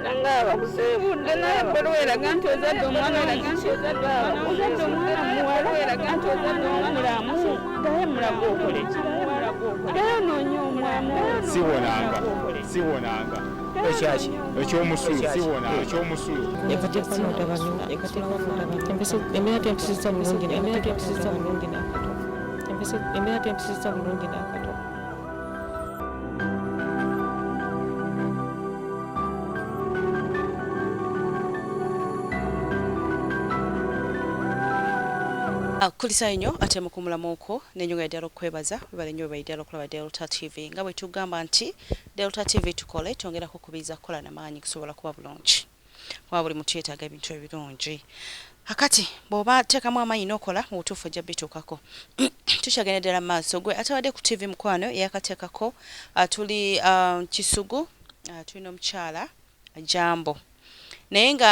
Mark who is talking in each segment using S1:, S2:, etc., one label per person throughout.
S1: nangaba kusibudde naye bolo weraga nti ozadde omwana ozadde omwana muwala weraga nti ozadde omulamu daye mulaga okole daye onoonya omulamu siwonanga siwonanga
S2: ekyaki ekyomusulu siwona ekyomusulu
S3: embeera tentusizza bulungi embeera tentusizza bulungi nakato
S4: kulisayo nnyo ate mukumulamu okwo nenyonga yaddala okukwebaza webale nnyo webale ddala okulaba delta tv nga bwe tugamba nti delta tv tukole twongera kukubiriza kukola na maanyi kusobola kuba bulungi Wabula buli muntu yetaaga ebintu ebirungi. Kakati bw'oba teekamu amaanyi n'okola, mu butuufu ojja bituukako. Tukyagenda ddala mu maaso. Gwe atabadde ku ttivi mukwano eyakateekako, ah, tuli, ah, Kisugu, ah, tuli n'omukyala Jambo. Naye nga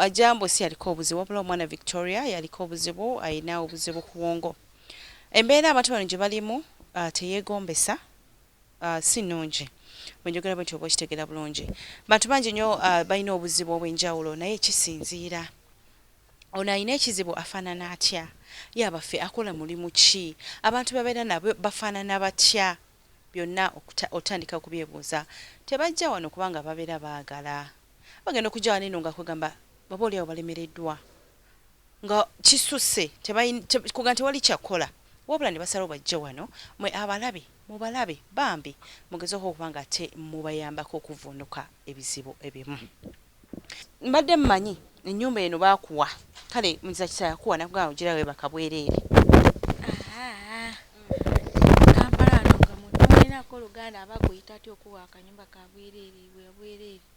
S4: ah, Jambo si yaliko obuzibu, wabula omwana Victoria yaliko obuzibu, alina obuzibu ku bwongo. Embeera abantu bano gye balimu ah, teyeegombesa. si nnungi. Bwe njogera bwentyo oba okitegeera bulungi. Bantu bangi nnyo balina obuzibu obw'enjawulo naye kisinziira ono alina ekizibu afaanana atya, ye abaffe akola mulimu ki, abantu b'abeera nabo bafaanana batya, byonna otandika okubyebuuza. Tebajja wano kubanga babeera baagala. Bagenda okujja wano eno nga kwegamba oba olyawo balemereddwa. nga kisusse tebalina kugamba tewali kyakukola wabula nebasalawo bajje wano mwe abalabe mubalabe bambi mugeze hoo okuba nga ate mubayambako okuvunuka ebizibu ebimu mbadde manyi enyumba eno bakuwa kale muziza kisa yakuwa nakugamba ojira webaka bwerere.
S5: Kampala wano nga muntu tomulinako luganda aba akuyita atya okuwa akanyumba kabwerere bwabwerere.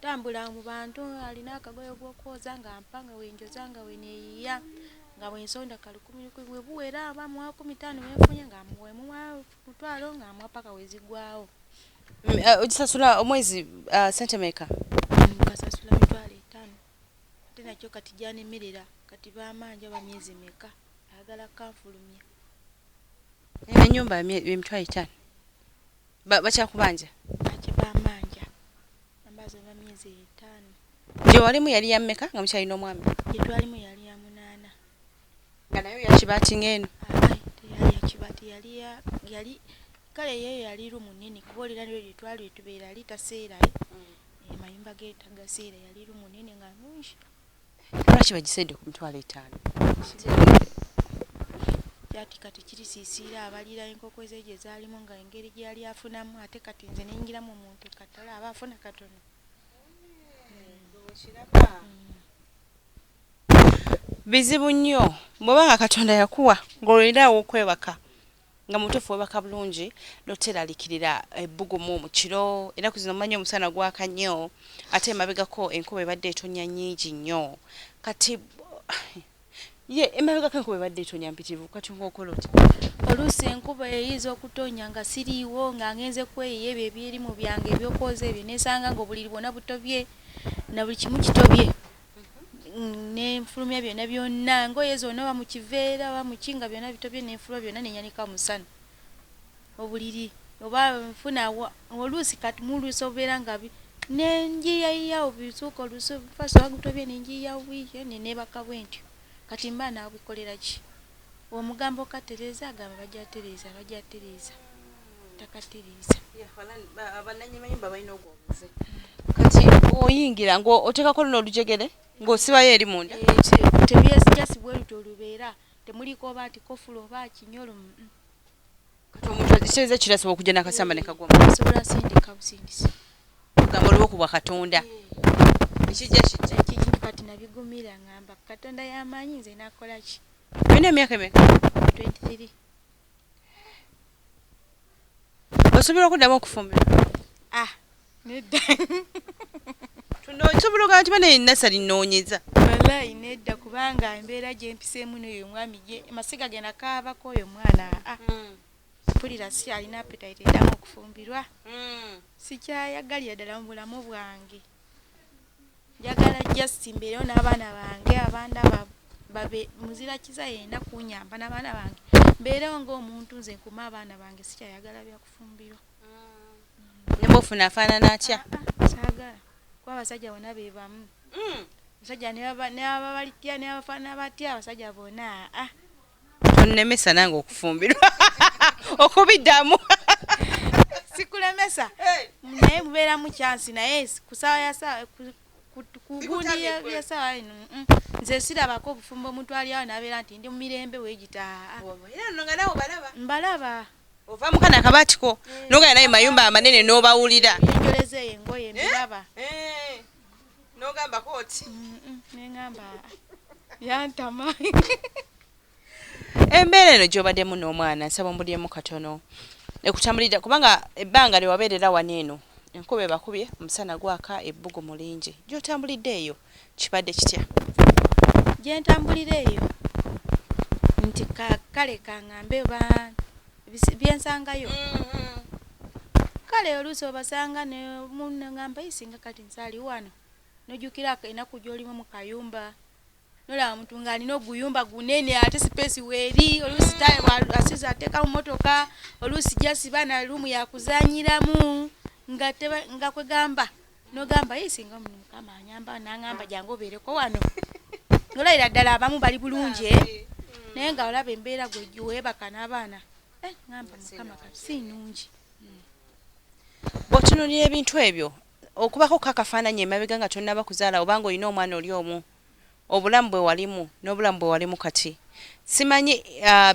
S5: Tambula mu bantu alina akagoye gw'okwoza nga mpa nga wenjoza nga weneyiya nga bwensonda kalukumilukumi buwera aba muwa kumi tano wenfunye nga wemuwa mutwalo nga muwa paka wezigwawo mm, eh,
S4: ogisasula omwezi ah, sente meka kasasula
S5: mitwalo etano ate nakyo kati gyanemerera kati bamanja bamyezi meka ayagala kanfulumya
S4: enyumba emitwalo etaano bakyakubanja bakibambanja
S5: ambaza oba myezi etaano gye walimu yali ya
S4: mmeka nga mukyalina omwami gye twalimu yali ya
S5: munaana
S4: nga nayo yakibatinga eno
S5: teyali yakibati yali yali kale ye yali rumu nene kuba olira nyo gye twali etubeera ali taseerayo mm. amayumba ge tagaseera yali rumu nene nga nungi lwaki
S4: bagisende ku mitwalo etaano
S5: ati kati kiri sisiira abalira enkoko ze gye zaalimu nga engeri gye yali afunamu ate kati nze neyingiramu omuntu katala aba afuna katono
S4: bizibu nnyo bw'oba nga katonda yakuwa ng'olinawo okwebaka Nga mubutuufu webaka bulungi notelalikilila ebbugumu mukilo enaku zino manyi omusana gwaka nnyo ate emabegako enkuba ebadde etonya nyingi nnyo kati ye emabegako enkuba ebadde etonya mpitilivu kati nga okola otya. Oluusi enkuba
S5: eyinza okutonnya nga siriiwo nga ngenze kweyiya ebyo ebyerimu byange ebyokwoza ebyo nesanga nga obuliri bwona butobye nabuli kimu kitobye nenfulumya byona byonna ngoye zona oba mukiveera oba muki nga byona bitobye nenfuluma byona nenyanika musana obuliri oba nfuna oluusi kati muluusi obeera nga nenjiyayiyawo bisuuka oluusi fasi oba gutobye nenjiyawo bwityo nenebaka bwentyo kati mba nabikolera ki omugambo katereza agamba bajatereza bajatereza takatiriza abananyi
S4: mayumba balina ogwo obuze kati oyingira nga otekako luno olujegere ng'osibayo eri munda tebyesijasi
S5: bweruti olubeera temuliiko oba nti kofula oba kinyolo
S4: kati omuntu agisiriza kirasobola okujja nakasamba nekagwasobola sindika
S5: busindisi ogamba oliwo
S4: kubwa katonda ekijja kijja ekijja
S5: kati nabigumira ngamba katonda yamanyi nze nakolaki olina emyaka emeka 23
S4: osobola okuddamu okufumbirwa ah,
S5: nedda
S4: osobola ogamba nti bana enasali noonyeza walayi nedda
S5: kubanga embeera gyempiseemu noyo omwami ye masiga genda kaabako oyo omwana a ah, hmm. mpulira si alina apetaite edamu okufumbirwa hmm. sikyayagalira ddala mu bulamu bwange njagala just mbeerewo n'abaana bange abaana babe muzira kiza yeyina kunyamba n'abaana bange mbeerewo ng'omuntu nze nkume abaana bange sikyayagala byakufumbirwa mm.
S4: neba ofuna afaanana atya ah, ah, kyagala
S5: kuba abasajja bona be bamu mm. abasajja nebabalitya nebafaanana batya abasajja bona aa ah, tonnemesa
S4: nange okufumbirwa okubiddamu
S5: sikulemesa naye mubeeramu kyansi naye kusawa yasawa kugundi yasawa ino nze sirabako obufumbo omuntu alyawo nabeera nti ndi mumirembe wegitaa
S4: mbalaba
S5: ova mukana
S4: akabatiko eh. nogana naye mayumba amanene nobawulira enjoleza eyo engoye
S5: mbiraba eh. eh. nogamba
S4: koti nengamba
S5: yantama
S4: embeera eno gyobademu n'omwana nsaba ombulyemu katono ekutambulidde kubanga ebbanga lyewabeerera wano eno enkuba ebakubye omusana gwaka ebbugu mulingi gyotambulidde eyo kibadde kitya
S5: gyentambulira eyo nti kale kangambe ba byensangayo mm-hmm. kale oluusi obasanga nemunangamba isinga kati nsaali wano nojukira enaku gyolimu mukayumba nolaba muntu nga alina oguyumba gunene ate sipesi weeri oluusi asiza ateeka mu motoka oluusi jasiba na luumu yakuzanyiramu nga kwegamba nogamba ye singa omuntu mukama anyamba nangamba ah. jangu obeereko wano nolayira ddala abamu bali bulungi eh? ah, eh. naye nga olaba embeera gwegiwebaka n'abaana eh, ngamba mukama kati si nungi hmm.
S4: bwotunulira ebintu ebyo okubako kakafaananyi emabega nga tonaba kuzaala obanga olina omwana oli omu obulamu bwewalimu nobulamu bwewalimu kati simanyi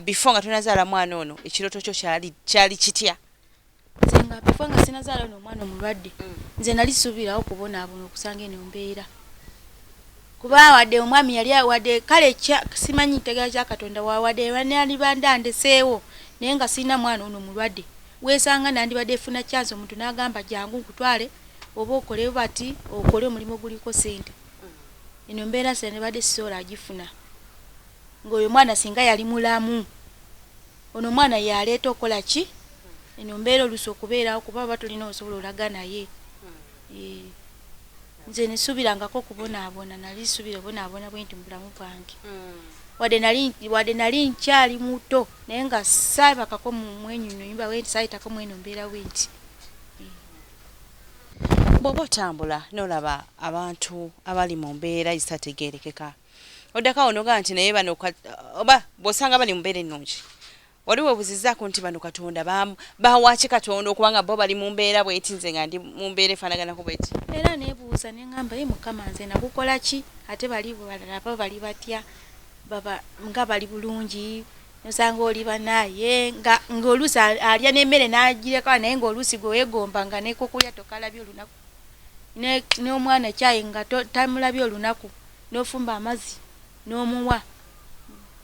S4: before nga tonazaala mwana ono ekiroto kyo kyali kyali kitya nze nga
S5: before nga sinazaala ono omwana omulwadde mm. nze nali subirawo kubonaabona okusanga eno mbeera kuba wadde omwami yali wadde kale simanyi ntegera kya katonda wadde banalibanda ndeseewo naye nga sirina mwana ono mulwadde weesanga nandibadde efuna kyansi omuntu n'agamba jangu nkutwale oba okole bati okole omulimu oguliko sente eno mbeera sendibadde sisobola agifuna ng'oyo mwana singa yali mulamu ono omwana yaleeta okukola ki eno mbeera oluusi okubeerawo kuba baba tulina osobola olaga naye eh, nze nesuubirangako okubonaabona nali suubira obonaabona bwe nti mu bulamu bwange hmm. wadde nali nkyali muto naye nga saabakako mwenyunyumba bwenti saayitako mweno mbeera bwenti eh.
S4: Bw'oba otambula n'olaba abantu abali mu mbeera ezitategeerekeka oddako awo n'ogamba nti naye bano oba bw'osanga bali mu mbeera ennungi wali weebuzizzaako nti bano katonda baawaaki katonda okuba nga bo bali mu mbeera bweti nze nga ndi mu mbeera efaanaganako bweti era neebuuza ne
S5: ngamba ye mukama nze nakukola ki ate bali balala baba bali batya baba nga bali bulungi Nosanga oli banaye nga ngolusi alya nemere najireka naye ngolusi gwewegomba nga nekokulya tokalabye olunaku ne nomwana chai nga tamulabye olunaku nofumba amazi nomuwa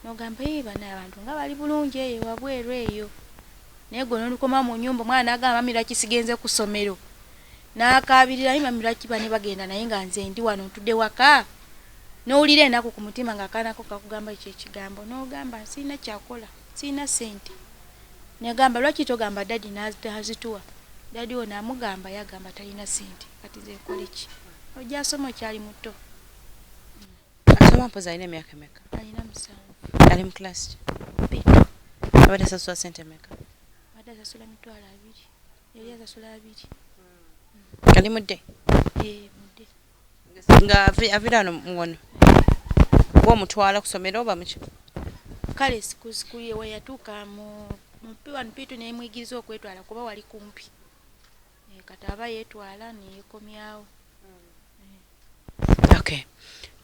S5: nogamba ee banaye abantu nga bali bulungi eyo wabweru eyo naye gwe nolukoma munyumba omwana nagamba mami lwaki sigenze kusomero nakabirira naye mami lwaki bane bagenda naye nga nze ndi wano ntude waka. N'owulira enaku ku mutima ng'akaana ko kakugamba ekyo ekigambo n'ogamba sirina kyakukola, sirina ssente. Negamba lwaki togamba daddy nazituwa, daddy wo namugamba ye agamba talina ssente kati nze nkole ki? Ojja asoma okyali muto.
S4: Asoma mpozi alina emyaka emeka? Alina musanvu.
S5: Ali mu class ki?
S4: Bbiri.
S5: Abadde asasula
S4: ssente meka? Abadde asasula
S5: mitwalo abiri. Yali asasula abiri. Ali mudde?
S4: Eeh. nga avira no ngono womutwala kusomero oba muki kale
S5: siku siku ye weyatuka mu mpi wano pitu nemuyigiriza okwetwala kuba wali kumpi e, kati aba yetwala neyekomyawo
S4: mm. okay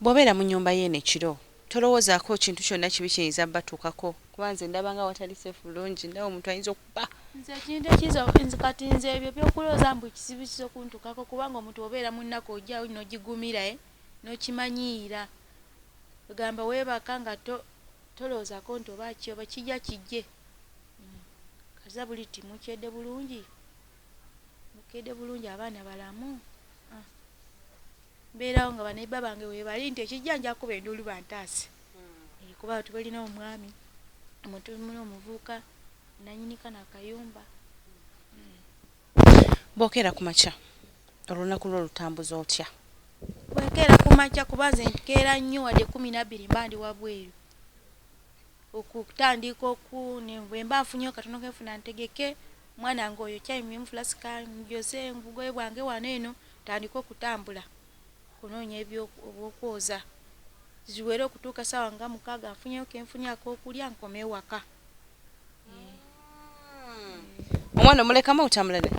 S4: bwobeera mu nyumba yeeno ekiro Tolowozaako kintu kyonna kibi kiyinza batuukako kuba nze ndaba nga watali safe bulungi ndaba omuntu ayinza okuba nze ekintu ekizo
S5: nze kati nze ebyo byokulooza mbu ekizibu kiza okuntukako kubanga omuntu obeera mu nnaku ojawo nogigumira e eh, nokimanyiira egamba weebaka nga tolowoozako nti oba ki oba kijja kijje hmm. kaza buli ti mukyedde bulungi mukedde bulungi abaana balamu ah. mbeerawo nga baneiba bange webali nti ekijja nja kukuba enduulu bantaase eh, kuba tubalina omwami omuntu muli omuvuuka nanyini kano akayumba
S4: bwokeera ku makya olunaku lwo lutambuza otya bwekeera
S5: ku makya kuba nze nkeera nnyo wadde kumi nabbiri mba ndi wabweru okutandika oku bwemba nfunyeyo katono kenfuna ntegeke mwana nga oyo kyayimyemu fulasika njoze ngugoye bwange wano eno Tandika okutambula okunoonya eby'okwoza ziwere okutuuka ssaawa nga mukaaga nfunyeyo ke nfunye ak'okulya nkome ewaka.
S4: Omwana omulekamu otambula naye?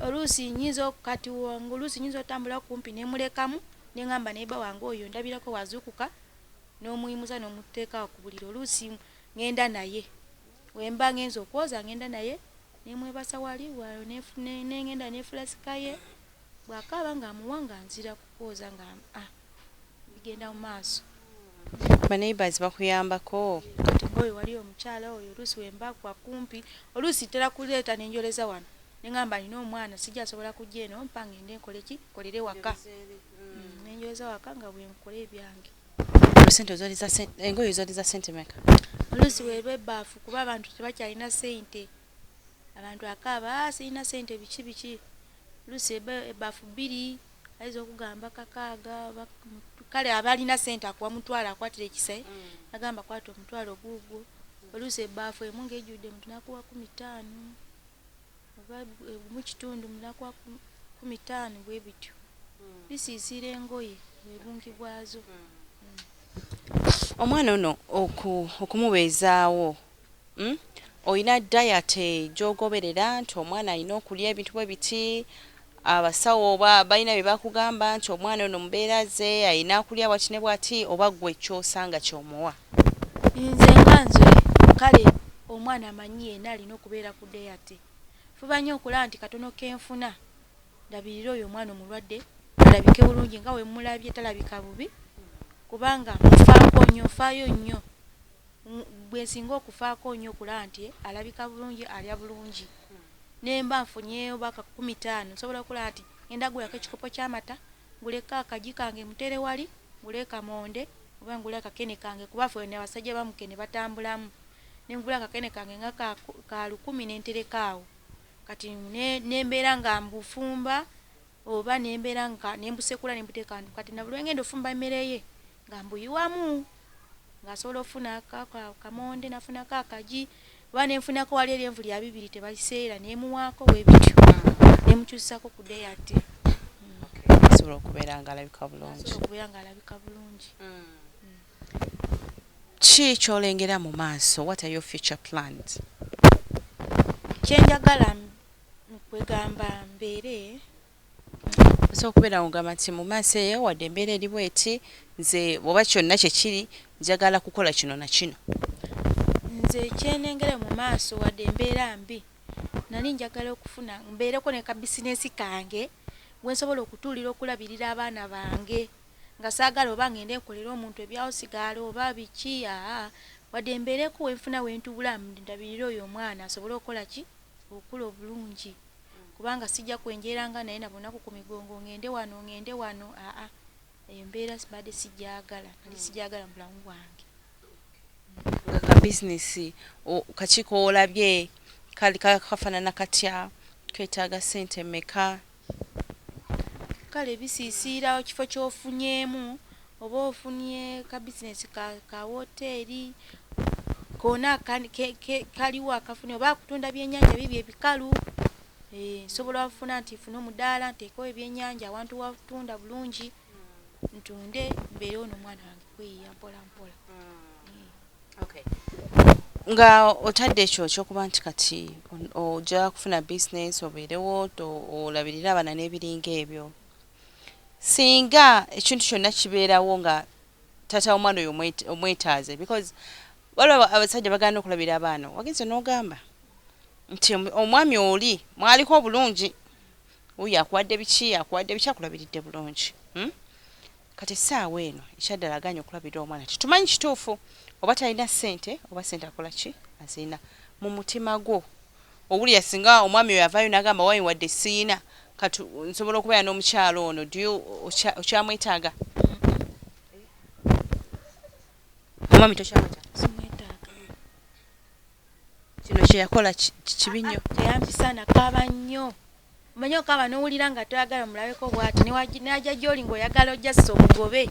S4: Oluusi
S5: nnyinza kati oluusi nnyinza otambula kumpi ne mulekamu ne ŋŋamba naye bba wange oyo ndabirako wazuukuka n'omuyimusa n'omuteeka ku buliri oluusi ŋŋenda naye. Wemba ngenze okwoza ngenda naye nemwebasa wali wayo nengenda nefula sikaye bwakaaba nga amuwa nga nzira kukwoza nga a bigenda mu maaso. Ba
S4: neighbours bakuyambako? Kati nga oyo wali
S5: omukyala oyo oluusi wemba kwa kumpi oluusi ntera kuleeta nenjoleza wano nengamba nina omwana sijasobola kujja eno mpa ngende nkoleki nkolere waka nenjoleza waka nga bwenkola ebyange. engoye
S4: zoliza sente meka olusi werwa
S5: ebaafu kuba abantu tebakyalina sente abantu akaaba ah, sirina sente biki biki olusi ebaafu bbiri ayinza okugamba kakaaga kale abalina sente akuwa mutwalo akwatira ekisai mm. agamba kwata omutwalo guugwo olusi ebaafu emu ngaejjudde mutunakuwa kumi taano oba egumu kitundu mulakwa kumi ttaano bwe bityo hmm. bisiisiira engoye bwe bungi bwazo hmm. Hmm.
S4: omwana ono okumubeezaawo olina dayate gyogoberera nti omwana alina okulya ebintu bwe biti Abasawo oba balina bye bakugamba nti omwana ono mbeera ze alina kulya bwati ne bwati oba gwe kyosanga kyomuwa? Nze
S5: nga nze kale omwana manyi yena alina okubeera ku day ate Fuba nyo okulaba nti katono kenfuna ndabirire oyo omwana omulwadde alabike bulungi nga wemulabye talabika bubi kubanga mufako nyo nfayo nyo gwe nsinga okufaako nnyo okulaba nti alabika bulungi, alya bulungi ne mba nfunyeeyo oba kakumi taano nsobola okulaba nti ng'enda kugulako ekikopo ky'amata, nguleko akagi kange mutere wali, nguleeko amonde oba ngule akakene kange kuba ffe abasajja ba mukene batambulamu ne ngula akakene kange nga ka lukumi ne ntereka awo kati ne mbeera nga mbufumba oba nembera nga nembusekula nembuteeka ndu kati nabuli wengenda ofumba emere ye nga mbuyiwamu nga asobola ofuna kamonde nafunako akaji oba nenfunako wali eri envuli ya bibiri tebaliseera nemuwaako bwebityo nemukyusako ku day ate
S4: asobola okubeera nga alabika bulungi okubeera nga alabika bulungi mm. ki kyolengera mu maaso what are your future plans kyenjagala
S5: kwegamba mbeere
S4: nsobola okubeera ngamba nti mu maaso eyo wadde embeera eri bweti nze oba kyonna kyekiri njagala kukola kino na kino nze
S5: kyenengere mu maaso wadde embeera mbi nali njagala okufuna mbeereko ne ka bisinesi kange we nsobola okutuulira okulabirira abaana bange nga saagala oba ngende nkolera omuntu ebyawusigaala oba biki aa wadde mbeereko wenfuna wentubula ndabirire oyo omwana asobole okukola ki okula obulungi kubanga sijja kwenjeranga naye nabunaku ku migongo ngende wano ngende wano aa embeera sibadde sijagala nali hmm. sijagala mu bulamu bwange
S4: ka bizinesi kakiiko olabye kafanana katya ketaaga sente meka
S5: Kale bisisiira kifo ky'ofunyeemu oba ofunye ka bizinesi ka ka wooteeri koona akandi ke ke kaliwo akafunye oba kutunda byennyanja biibyo ebikalu hee nsobola ofuna nti nfune omudaala nteekewo ebyennyanja awantu wa kutunda bulungi ntunde mbeere ono omwana wange kweyiiya mpolampola hee.
S4: nga otadde ekyo kyokuba nti kati ojja kufuna bisinesi obeerewo olabirire abaana n'ebiringa ebyo singa ekintu kyonna kibeerawo nga taata w'omwana oyo omwetaaze because waliwo abasajja bagana okulabira abaana wagenze n'ogamba nti omwami oli mwaliko obulungi uyo akuwadde biki akuwadde biki akulabiridde bulungi hmm? Kati essaawa eno ekyaddala agaanyi okulabirira omwana tetumanyi kituufu oba talina ssente oba ssente akola ki azirina mu mutima gwo. Owulira singa omwami oyo avaayo n'agamba wai wadde siyina kati nsobola okubeera n'omukyala ono do you okya okyamwetaaga?
S5: Omwami tokyamwetaaga? Simwetaaga.
S4: Kino kye yakola kibi nnyo. Teyampisa, nakaaba
S5: nnyo. Omanyi okaaba n'owulira nga toyagala omulabeko bw'ati n'ajja gy'oli ng'oyagala ojjasisa omugobe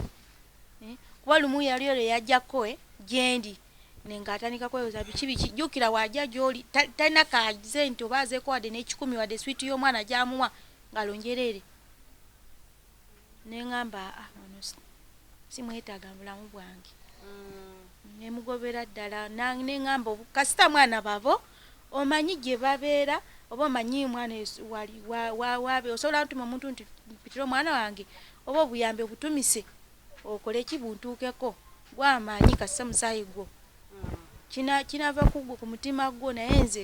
S5: eh, kuba lumu yali oyo yajjako eh, gyendi nengatandika kwebuza biki biki jukira waja gyoli talina kaze nti oba azeeko wadde n'ekikumi wadde swiiti y'omwana gyamuwa ngalonjereere nengamba ah, ah, ono simwetaga bulamu bwange mm. nemugobera ddala nengamba kasita mwana babo omanyi gye babeera oba omanyi mwana wabe osobola ntuma omuntu nti mpitira omwana wange oba obuyambi obutumise okole ki buntuukeko gwamaanyi kasita musaayi gwo mm. kinava kugwo ku mutima gwo naye nze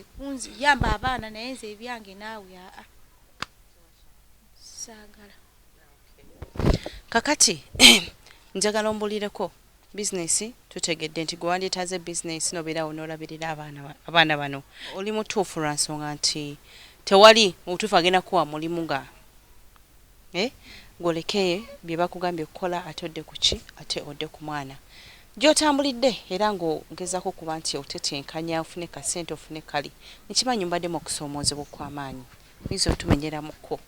S5: yamba abaana naye nze ebyange naawe aa saagala
S4: kakati njagala ombulireko bizinesi tutegedde nti gwe wandyetaaze bizinesi nobeerawo n'olabirira abaana abaana bano oli mutuufu lwa nsonga nti tewali mubutuufu agenda kuwa mulimu nga eh, gwoleke bye bakugambye okukola ate odde ku ki ate odde ku mwana gy'otambulidde era ng'ogezaako okuba nti otetenkanya ofune kasente ofune kali nkimanyi mbaddemu okusoomoozebwa okw'amaanyi Oyinza otumenyera mu ko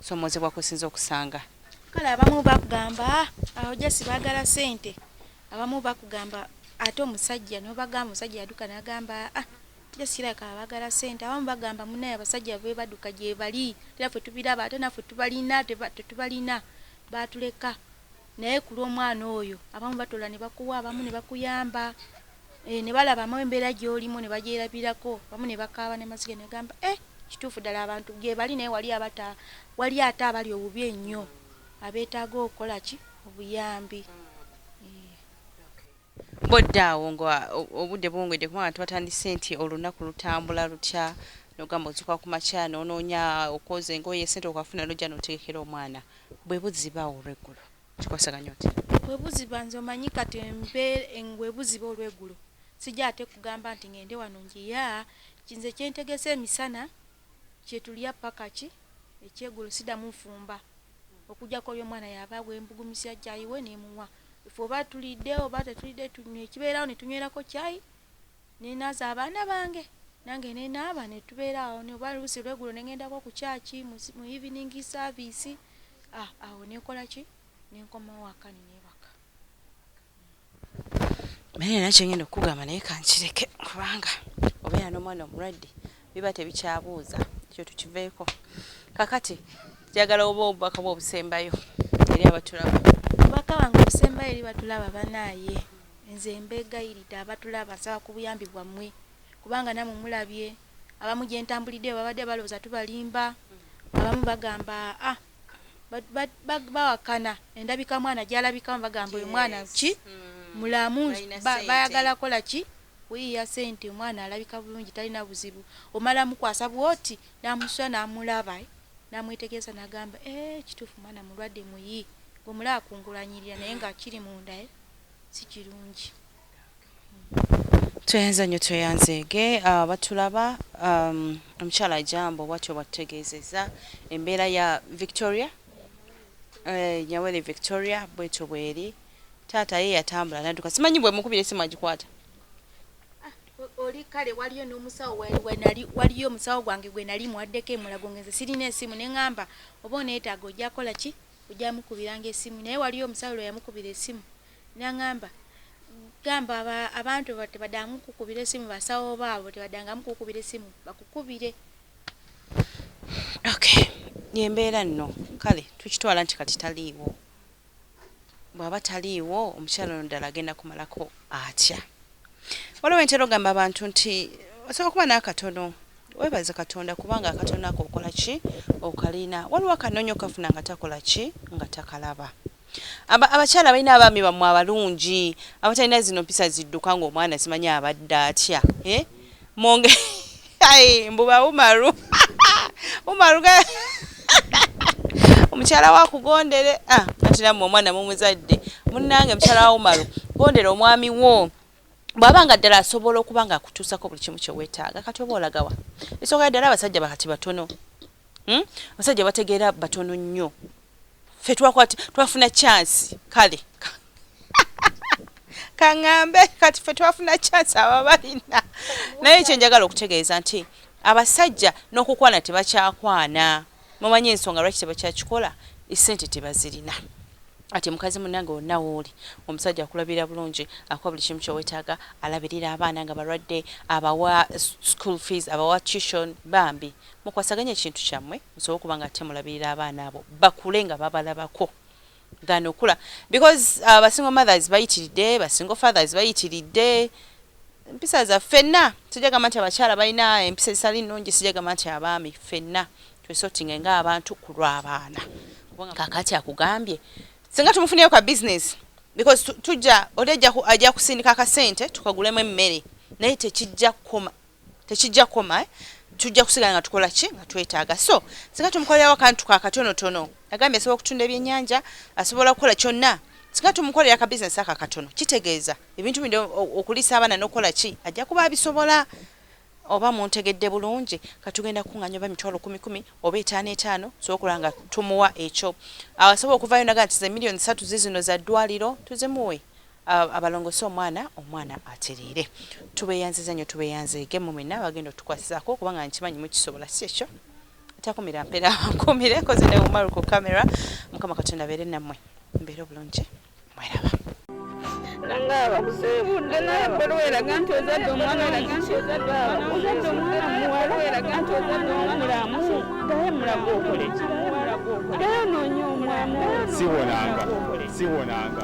S4: somoozebwa kwesinza okusanga. Kale abamu
S5: bakugamba awo just bagala sente abamu bakugamba ate omusajja nobagamba omusajja yaduka nagamba ah just like abagala sente abamu bagamba munaye abasajja bebaduka gyebali tera ffe tubilaba ate naffe tubalina tetubalina batuleka. Naye kulwomwana oyo abamu batola nebakuwa abamu nebakuyamba eeh nebalabamu embera gyolimu nebagyerabirako abamu nebakaaba nemaziga negamba eeh kituufu ddala abantu gyebali naye wali abata waliyo ate abali obubi enyo abetaaga okukolaki obuyambi eeh.
S4: Bwodda awo nga obudde buwungedde kuba abantu batandise nti olunnaku lutambula lutya nogamba ozuka kumakya nononya okwoza engoye sente okafuna nojja notegekera omwana bwebuziba awo olweggulo kikwasaganya otya? Bwebuziba nze
S5: omanyi kati bwebuziba olweggulo sijja ate kugamba nti ngende wano njiya nze kyentegese emisana kyetulya pakaki ekyeggulo sidamu nfumba okujjako oli omwana yaba wembugumizza chai we nemuwa. ife oba tulidde oba tetulidde tunywekibeerawo netunywerako kyayi nenaaza abaana bange nange nenaaba netubeeraawo oba luusi lwegulo nengendako ku kyaki mu evening service ah, awo nekola ki nenkomawo akani nebaka
S4: naye nakyo ngenda okukugamba naye kankireke kubanga obeera n'omwana omulwadde biba tebikyabuuza ekyo tukiveeko kakati njagala oba obubaka bwe obusembayo eri abatulaba obubaka bange
S5: obusembayo eri batulaba banaaye nze mbeegayiride abatulaba nsaba ku buyambi bwammwe kubanga namwe mulabye abamu gye ntambulidde babadde balowooza tubalimba abamu bagamba a ah, bawakana endabika mwana gyalabikamu bagamba oyo mwana ki mm. mulamu bayagala kola ki Kuyiiya sente omwana alabika bulungi talina buzibu omala mukwasa bwoti namusula namulaba namwetegereza nagamba eeh kituufu mwana mulwadde muyii ngomulaba kungulanyirira naye nga kiri munda eeh sikirungi umm.
S4: Tweyanze nyo tweyanzeege abatulaba umm omukyala Jambo bwatyo bwatutegeezeza embeera ya Victoria eeh Nyawere Victoria bwetyo bweri. Taata ye yatambula nadduka simanyi bwemukubira essimu agikwata. Ah,
S5: oli kale waliyo n'omusawo wenali waliyo omusawo gwange gwe nali muwaddeko emulago ngenze sirina esimu ne ŋŋamba oba oneetaaga ojja kola ki ojja mukubiranga esimu naye waliyo omusawo lwe yamukubira esimu n'aŋamba gamba abantu tebadangamu kukubira esimu basawo baabo tebadangamu kukubira esimu bakukubire
S4: okay yembeera nno kale tukitwala nti kati taliiwo Bw'aba taliiwo, omukyala ono ddala agenda kumalako atya? Waliwo entera ogamba abantu nti osobola kuba n'akatono weebaze Katonda kubanga akatono ako okola ki okalina. Waliwo akanoonya okafuna nga takola ki nga takalaba. Abakyala balina abaami bammwe abalungi abatalina zino mpisa zidduka ng'omwana simanyi abadde atya eh? Ai mbuba Umaru. Umaru ga Omukyala wa kugondere ah ati namwe omwana mumuzadde munnange mukyala wa Umaru gondere omwami wo bwaba nga ddala asobola okuba nga akutuusako buli kimu kye weetaaga kati oba olagawa esooka ya ddala abasajja bakati batono Hmm? Abasajja bategeera batono nnyo. Ffe twakwati twafuna chance kale. Kangambe kati ffe twafuna chance ababalina. Naye kye njagala okutegeeza nti abasajja n'okukwana tebakyakwana. Mumanyi ensonga lwaki tebakyakikola essente tebazirina. Ati mukazi munange wonna wooli omusajja akulabira bulungi akuwa buli kimu kyowetaaga alabirira abaana nga balwadde abawa school fees abawa tuition bambi Mukwasaganye ekintu kyamwe musobole okuba nga ate mulabirira abaana abo bakule nga babalabako than okula because uh, ba single mothers bayitiridde ba single fathers bayitiridde empisa za fenna sijagamba nti abakyala balina empisa ezitali nnungi sijagamba nti abaami fenna twesotinge nga abantu ku lw'abaana kakati akugambye singa tumufuneyo ka business because tujja oli ajja kusindika akasente tukagulemu emmere naye tekijja kukoma tekijja koma eh? tujja kusigala nga tukola ki nga twetaaga so singa tumukolerawo akantu ka katonotono nagambye asobola okutunda ebyennyanja asobola okukola kyonna singa tumukolera ka bizinesi ako akatono kitegeeza ebintu bindi okuliisa abaana n'okukola ki ajja kuba abisobola oba muntegedde bulungi katugenda kunganya oba mitwalo kumi kumi oba etaano etaano sobola nga tumuwa ekyo asobola okuvayo naga nti ze miliyoni satu zizino za ddwaliro tuzimuwe Abalongose omwana omwana atereere. Tubeyanziza nyo tubeyanzeege mwe mwenna abagenda otukwasizaako kubanga nkimanyi mukisobola si kyekyo? Takumira mpera nkuumire koze ne Umaru ku camera mukama katonda abeere nammwe mubeere obulungi mweraba.
S1: Nange abakusiibudde naye bwe lweraga nti ozadde omwana ozadde omwana muwala weraga nti ozadde omulamu gaye mulaga okoleki gaye onoonya omulamu siwonanga siwonanga